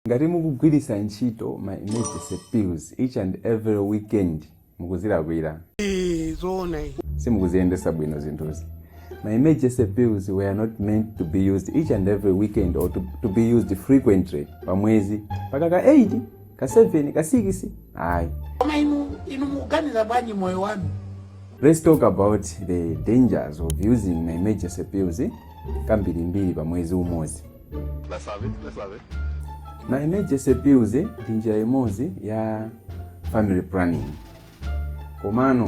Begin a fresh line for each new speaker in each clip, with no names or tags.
Ngati mukugwiritsa ntchito ma emergency pills each and every weekend mukuzilakwira. Eee
zoona izi. Simukuziyendesa
bwino zinthuzi. Ma emergency pills were not meant to be used each and every weekend or to, to be used frequently pa mwezi mpaka ka 8 ka 7 ka 6 ayi. Koma inu
inu mukuganiza bwanji moyo wanu? Let's talk
about the dangers of using ma emergency pills kambirimbiri pa mwezi umodzi. ma emergency pills ndi njira imodzi ya family planning komano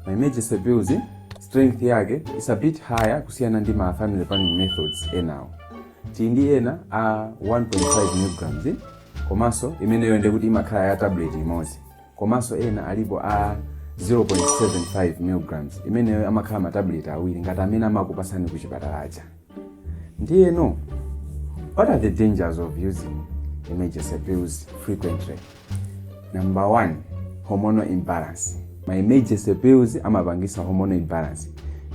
ma emergency pills strength yake is a bit higher kusiyana ndi ma family planning methods enawo ti ndi ena a 1.5 milligrams komanso imeneyo ndi kuti imakhala ya tablet imodzi komanso ena alipo a 0.75 milligrams imeneyo amakhala ma tablet awiri ngati amene amakupasani ku chipatala aja Ndiyeno, what are the dangers of using emergency pills frequently? Number one, hormonal imbalance. Ma emergency pills amapangisa hormonal imbalance.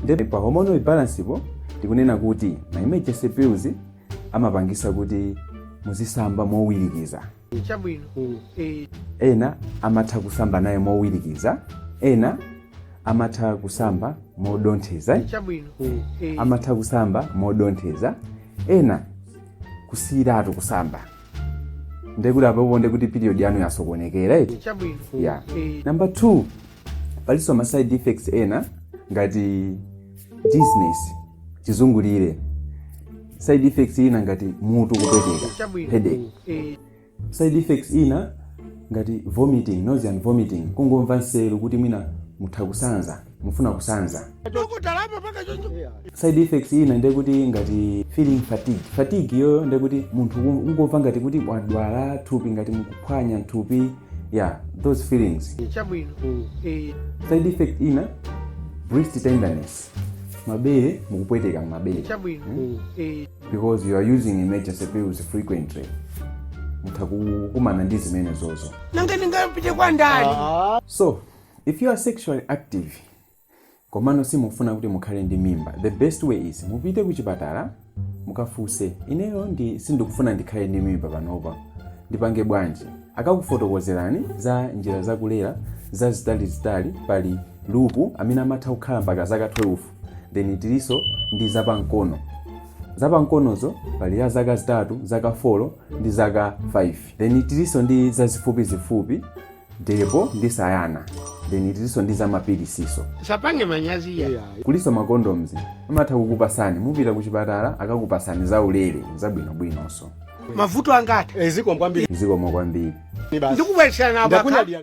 Ndipo pa hormonal imbalance po tikunena kuti ma emergency pills amapangisa kuti muzisamba mowirikiza.
chabwino
Eh, ena amatha kusamba naye mowirikiza ena amatha kusamba modontheza chabwino
Eh, amatha
kusamba modontheza ena kusiyiratu kusamba ndekuti apopo ndekuti period yanu yasokonekera eti chabwino ya
Eh, namba
2 palinso ma side effects ena ngati dizziness chizungulire side effects ina ngati mutu kupweteka headache side effects ina ngati vomiting nausea and vomiting kungomva nseru kuti mwina mutha kusanza mufuna kusanza side effects ina ndiye kuti ngati feeling fatigue fatigue iyoyo ndiye kuti munthu un- ungomva ngati kuti wadwala thupi ngati mukuphwanya thupi yeah those feelings chabwino
Eh,
side effect ina breast tenderness mabere mukupweteka m'mabere
chabwino Eh,
because you are using emergency pills frequently mutha kukumana ndi zimenezozo nanga ndingapite
kwa ndani so
if you are sexually active komano simufuna kuti mukhale ndi mimba the best way is mupite kuchipatala mukafunse ineyo sindikufuna ndikhale ndi mimba panopa ndipange bwanji akakufotokozerani za njira zakulera zazitalizitali pali lupu amene amatha kukhala mpaka zaka 12 then tiliso ndi zapamkono zapamkonozo pali ya zaka zitatu zaka 4 ndi zaka 5 then tiliso ndi zazifupizifupi depo ndi sayana then tilinso ndi zamapilisiso musapange manyazi
iya kulinso makondoms
amatha kukupasani mupita ku chipatala akakupasani zaulere
zabwinobwinonso
mavuto
angati
zikomo kwambiri zikomo
kwambiri
basi
ndikubweretserana
abaka Ndakunyadira.